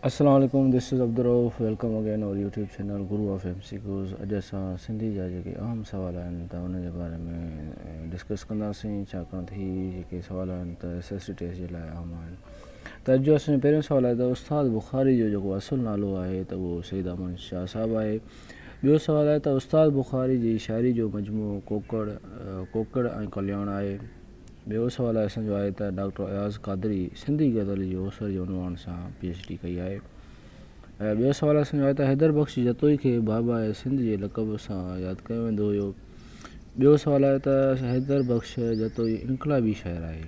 السلام عليڪم this is Abdul Rauf welcome again our YouTube channel guru of M C Qs اڄ اسان سنڌي جا جيڪي اهم سوال آهن ته ان جي باري ۾ ڊسڪس ڪنداسين ڇاڪاڻ ته هي جيڪي سوال آهن ته ايس ايس سي ٽيسٽ جي لاء اهم آهن ته اڄ جو اسان جو پهريون سوال آهي ته استاد بخاري جو جيڪو اصل نالو آهي ته اهو سيد امن شاهه صاحب آهي ٻيو سوال آهي ته استاد بخاري جي شاعري جو مجموعو ڪوڪڙ ڪوڪڙ ۽ ڪلياڻ آهي ٻيو سوال اسان جو آهي ته ڊاڪٽر اياز قادري سنڌي غزل جي اوسر جي عنوان سان پي ايڇ ڊي ڪئي آهي ۽ ٻيو سوال اسان جو آهي ته حيدر بخش جتوئي کي باباء سنڌ جي لقب سان ياد ڪيو ويندو هيو ٻيو سوال آهي ته حيدر بخش جتوئي انقلابي شاعر آهي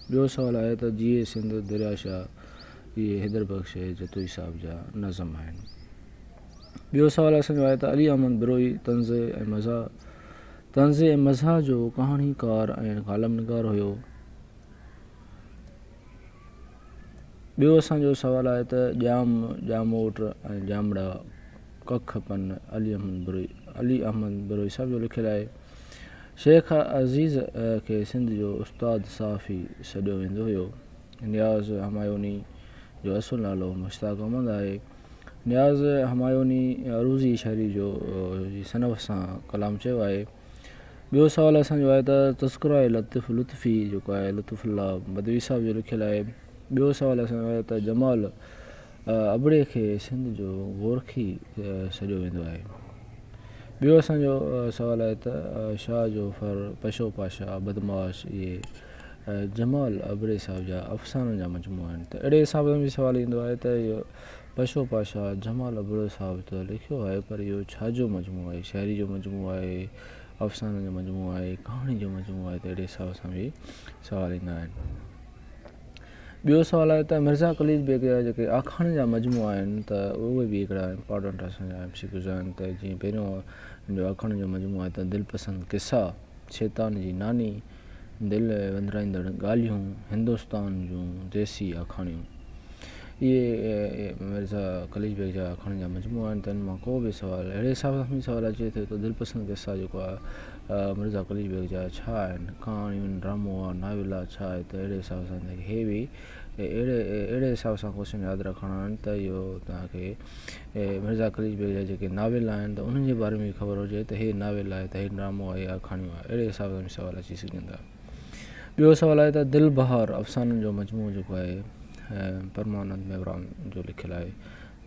ٻيو سوال آهي ته جيئي سنڌ دريا شاهه اهي حيدر بخش جتوئي صاحب جا نظم آهن ٻيو سوال اسان جو آهي ته علي احمد بروهي طنز ۽ مزاح طنز ۽ مزاح جو ڪهاڻيڪار ۽ ڪالم نگار هيو. ٻيو اسان جو سوال آهي ته ڄام، ڄاموٽ ۽ ڄامڙا ڪک پن علي احمد بروهي، علي احمد بروهي صاحب جو لکيل آهي. شيخ عزيز کي سنڌ جو استاد صحافي سڏيو ويندو هيو. نياز همايوني جو اصل نالو مشتاق احمد آهي. نياز همايوني عروضي شاعري جو جي صنف سان ڪلام چيو آهي. ٻيو سوال اسان جو آهي ته تذڪره لطيف لطفي جيڪو آهي لطف الله بدوي صاحب جو لکيل آهي. ٻيو سوال اسان جو آهي ته جمال ابڙي کي سنڌ جو گورکي سڏيو ويندو آهي. ٻيو اسان جو سوال آهي ته شاهه جو ڦر پشو پاشا بدمعاش اهي جمال ابڙي صاحب جا افسانن جا مجموعا آهن ته اهڙي حساب سان به سوال ايندو آهي ته اهو پشو پاشا جمال ابڙو صاحب ته لکيو آهي پر اهو ڇا جو مجموعو آهي شاعري جو مجموعو آهي افسانن جو مجموعو آهي ڪهاڻي جو مجموعو آهي ته اهڙي حساب سان به سوال ايندا آهن ٻيو سوال آهي ته مرزا قليچ بيگ جا جيڪي آکاڻين جا مجموعا آهن ته اهي به هڪڙا امپارٽنٽ اسان جا ايم سي ڪيوز آهن ته جيئن پهريون جو آکاڻين جو مجموعو آهي ته دلپسند قصا شيطان جي ناني دل وندرائيندڙ ڳالهيون هندستان جون ديسي آکاڻيون اهي مرزا قليچ بيگ جا آکاڻين جا مجموعا آهن تن مان ڪو به سوال اهڙي حساب سان سوال اچي ٿو ته دلپسند قصا جيڪو آهي مرزا قليچ بيگ جا ڇا آهن ڪهاڻيون ڊرامو آهي ناول آهي ڇا آهي ته اهڙي حساب سان اهي به اهڙي اهڙي حساب سان ڪوشچن ياد رکڻا آهن ته اهو توهان کي مرزا قليچ بيگ جا جيڪي ناول آهن ته انهن جي باري ۾ به خبر هجي ته هي ناول آهي ته هي ڊرامو آهي يا ڪھاڻيون آهي اهڙي حساب سان به سوال اچي سگهن ٿا ٻيو سوال آهي ته دل بهار افسانن جو مجموعو جيڪو آهي پرمانند ميوراڻ جو لکيل آهي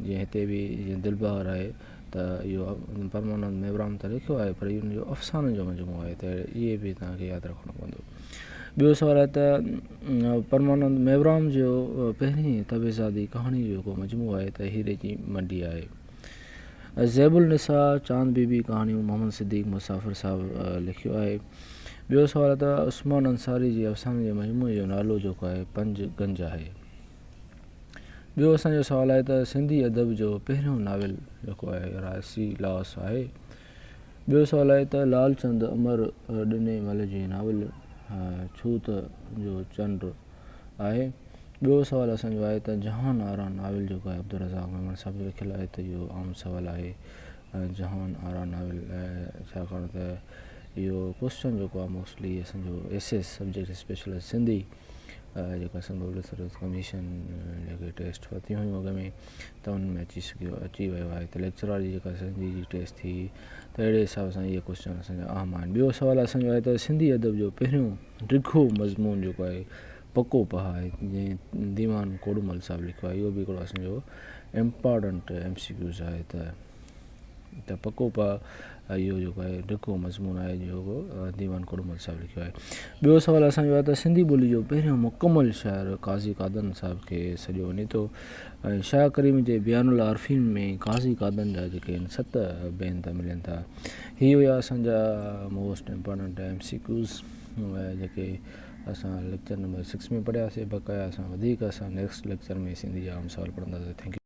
جيئن هتي به جيئن دل بهار آهي ته اهو پرمانند ميوراڻ ته لکيو آهي پر ان جو افسانن جو مجموعو آهي ته اهي به تنهن کي ياد رکڻو پوندو ٻيو سوال آهي ته پرمانند ميوراڻ جو پهرين طبعزادي ڪهاڻين جو جيڪو مجموعو آهي ته هيري جي منڊي آهي. زيب النساء، چاند بي بي ڪهاڻيون محمد صديق مسافر صاحب لکيو آهي. ٻيو سوال ته عثمان انصاري جي افسانن جي مجموعي جو نالو جيڪو آهي پنج گنج آهي. ٻيو اسان جو سوال آهي ته سنڌي ادب جو پهريون ناول جيڪو آهي راسي لاس آهي. ٻيو سوال آهي ته لعل چند امر ڏني مل جي ناول ڇوت جو چنڊ آهي. ٻيو سوال اسان جو آهي ته جهان آرا ناول جيڪو آهي عبدالرزاق ميمڻ صاحب جو لکيل آهي ته اهو عام سوال آهي جهان آرا ناول ڇاڪاڻ ته اهو ڪوسچن جيڪو آهي موسٽلي اسان جو S S subject special S Sindhi جيڪا سنڌو لٽريچر ڪميشن جيڪي ٽيسٽ ورتيون هيون اڳ ۾ ته ان ۾ اچي سگهيو اچي ويو آهي ته ليڪچرار واري جيڪا سنڌي جي ٽيسٽ ٿي ته اهڙي حساب سان اهي ڪوشچن اسانجا اهم آهن ٻيو سوال اسانجو آهي ته سنڌي ادب جو پهريون ڊگهو مضمون جيڪو آهي پڪو پهه آهي جنهن ديوان ڪوڏمل صاحب لکيو آهي اهو به هڪڙو اسانجو امپارٽنٽ ايم سي ڪيوز آهي ته ته پڪو پاء اهو جيڪو آهي ڊگهو مضمون آهي جيڪو ديوان ڪوڏمل صاحب لکيو آهي ٻيو سوال اسان جو آهي ته سنڌي ٻولي جو پهريون مڪمل شاعر قاضي قادن صاحب کي سڏيو وڃي ٿو ۽ شاهه ڪريم جي بيان العارفين ۾ قاضي قادن جا جيڪي آهن ست بينت ملن ٿا هي هيا اسان جا most important M C Qs جيڪي اسان ليڪچر نمبر سڪس ۾ پڙهياسي بقايا اسان وڌيڪ اسان نيڪسٽ ليڪچر ۾ سنڌي جا عام سوال پڙهنداسين ٿينڪ يو